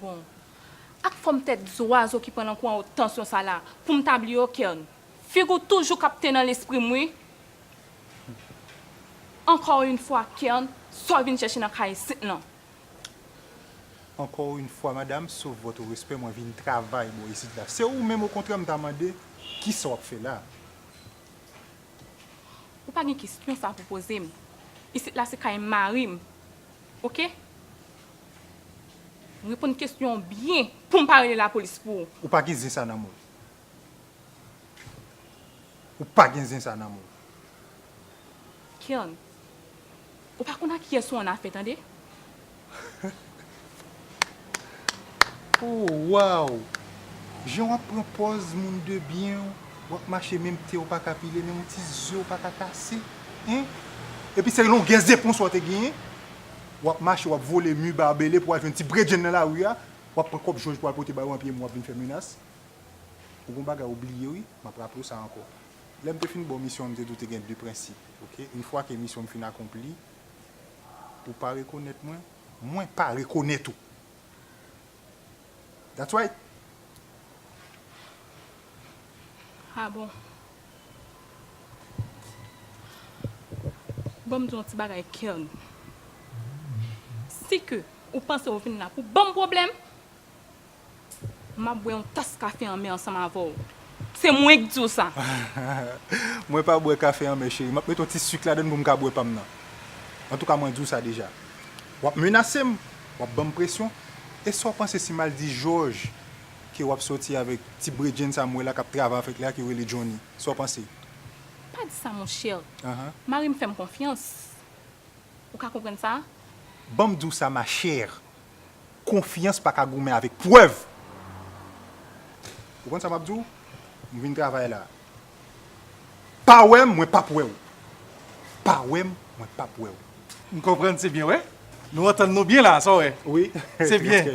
Bon. Ak fòm tèt zwazo ki pran nan kou an ou tansyon sa la, pou m ta bliye w Kern? Figi w toujou kapte nan lespri m wi. Encore une fois Kern, sa w vin chèche nan kay isit lan? Encore une fois madame, sauf votre respect, mwen vin travay bò isit la. Se ou menm okontrè m ta mande, kisa w ap fè la a? Ou pa gen kesyon sa a pou poze m. Isit la se kay mari m. Ok Reponn kesyon an byen pou m pa rele lapolis pou ou. Ou pa gen zen sa nan men w. Ou pa gen zen sa nan men w. Kern Ou pa konn ak kiyès ou annafè tande. Oh waww jan wap pran pòz moun de byen wap mache menm pyew paka pile menm yon ti zyew paka kase hein epi se longè zepon sa w te genyen wap mache wap vole mi barbele pou al jwenn ti bredjenn nan lari a wap pran kòb jòj pou al pote bay ou anpi wap vin fè menas ou gon bagay ou bliye wi map raplew sa ankò lèm te fin baw misyon an m te diw te gen de prensip ok une fois ke misyon m fin akonpli ou pa rekonèt mwen. Mwen pa rekonet ou. That's right. Ah bon. Banm di w yon ti bagay Kerly. Si ke ou panse ou vin la pou banm pwoblèm. Map bwè yon tas kafe anmè ansanm avèw. Se mwen k diw sa. Mwen pa bwè kafe anmè cheri map met yon ti sucre ladann poum ka bwè pam nan. Antouka mwen diw sa deja. Wap menasem, wap banm presyon, esaw panse si mal di jòj ke wap sòti avèk ti bredjenn sa m wè la kap travay avèk la ke yo rele Johnny. Saw panse? Pa di sa mon chè. Marim fèm konfyans. Ou ka konprann sa? Banm diw sa ma chère. Konfyans pa ka goumen avèk prèv. Ou konn sa m ap di w? M vin travay la. Pa wè m, mwen p ap wè w. Pa wè m, mwen p ap wè w. M konprann se byen wè. Nou antann nou byen la a, sa w wè? Wi, trè byen.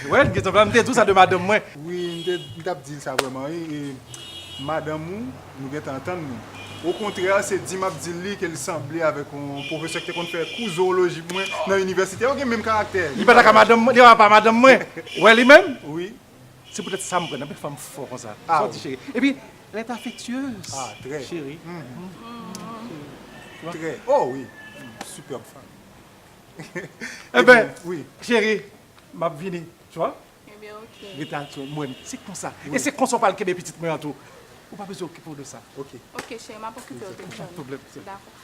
Ou wè, gen tan m te di w sa de madanm mwen. Wi, m t ap di l sa vrèman wi. Madanm ou. Nou gentan antann nou. Okontrè, se di m ap di l li ke l sanble avèk yon pwofesè ki te konn fè kou zowoloji pou mwen nan inivèsite. Yo gen menm karaktè. Li pa ta ka madanm mwen? Li pa pa madanm mwen? Ou wè li menm? Wi. Se poutèt sa m pran anpil fanm fò konsa. Sa w di cheri? Epi, lè t afektyez. Ah, trè. Cheri. Cheri. Trè. Oh wi. Sipèb fanm. Enben, cheri, m ap vini. Tu vois? Ebyen ok. Reta ak tchoul mwen ti konsa. E se konsa w pral kenbe pitit mwen an tou. Ou pa bezwen okipe w de sa. Ok. Ok cheri map okipe w de sa. Pap gen pwoblèm. Dakò.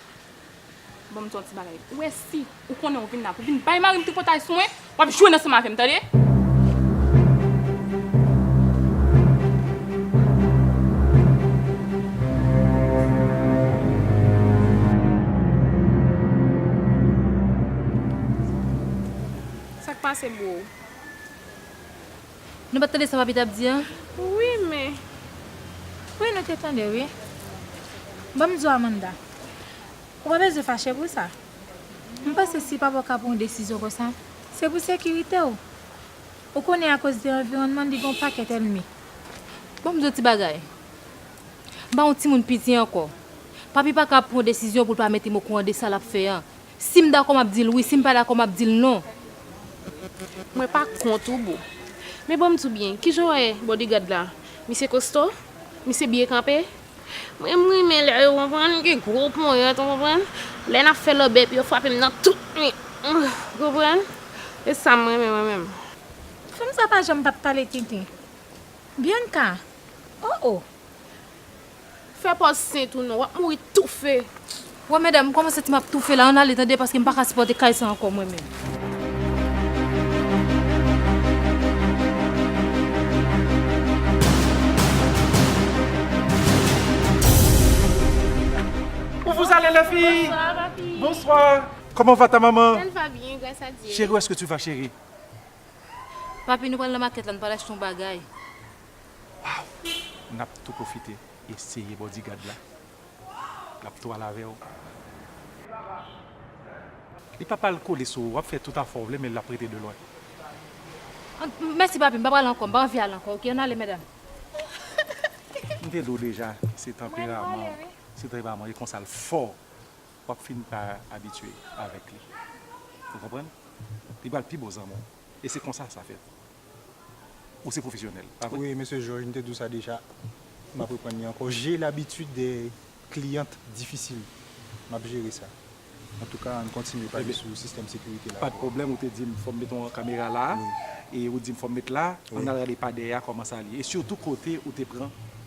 Bon m di w yon ti bagay. Ou wè si ou konnen ou vin la pou w vin bay mari m tripotay sou mwen, wap jwenn ansanm avè m tande. Sak pase bro? Nou pat tande sa papi tap di an? Wi men. Wi nou te tande wi. Ban m di w Amanda. Ou pa bezwen fache pou sa. M panse si papa w ka pran yon desizyon konsa, se pou sekirite w. Ou konnen akoz de anviwònman li gen yon pakèt ènmi. Ban m di w yon ti bagay. M pa yon timoun piti ankò. Papi pa ka pran yon desizyon pou l pa mete m okouran de sa lap fè an. Si m dakò map dil wi si m pa dakò map dil non. Mwen pa kont ou boo. Men banm di w byen, kijan w wè bodyguard la? Misye kosto? Misye byen kanpe? Mwen renmen lè yo konprann gen gwo ponyèt ou konprann, lè nap fè lòbèy pou yo frape m nan tout mi an ou konprann, se sa m renmen mwen menm. Fanm sa pa janm pap pale tenten. Bianca! Oh oh! Fè pòz sent ou non, wap mouri toufe. Wè medam m kòman santi map toufe la ann ale tande paske m pa ka sipòte kay sa ankò mwen menm. Où vous allez les filles? Bonsoir ma fille. Bonsoir. Comment va ta maman? Elle va bien grâce à Dieu. Chérie où est-ce que tu vas chérie? Papi nou pral nan makèt la nou pral achte yon bagay. Waww nap tou profite eseye bodyguard la lap tou al avew li pap al kole sou ou wap fè tout afew vle men lap rete de lwen. Mèsi papi m pa pral ankò m pa anvi al ankò ok ann ale medam. M te di w deja se tanperaman w se tanperaman w e konsa l fò wap fin pa abitye avek li ou konprann li pral pi bon zanmi w e se konsa sa fèt Ou se profesyonèl, pa vre? Wi, Mesye Jòj, m te di w sa deja, m ap reprann li ankò. J'ai l'habitude des clientes difficiles. M ap jere sa. Antouka, ann kontinye pale sou sistèm sekirite la. Pa de pwoblèm, ou te di m fò m met yon kamera la a, e ou di m fò m met la a, ann al gade padè a kòman sa l ye, e sitou kote ou te pran.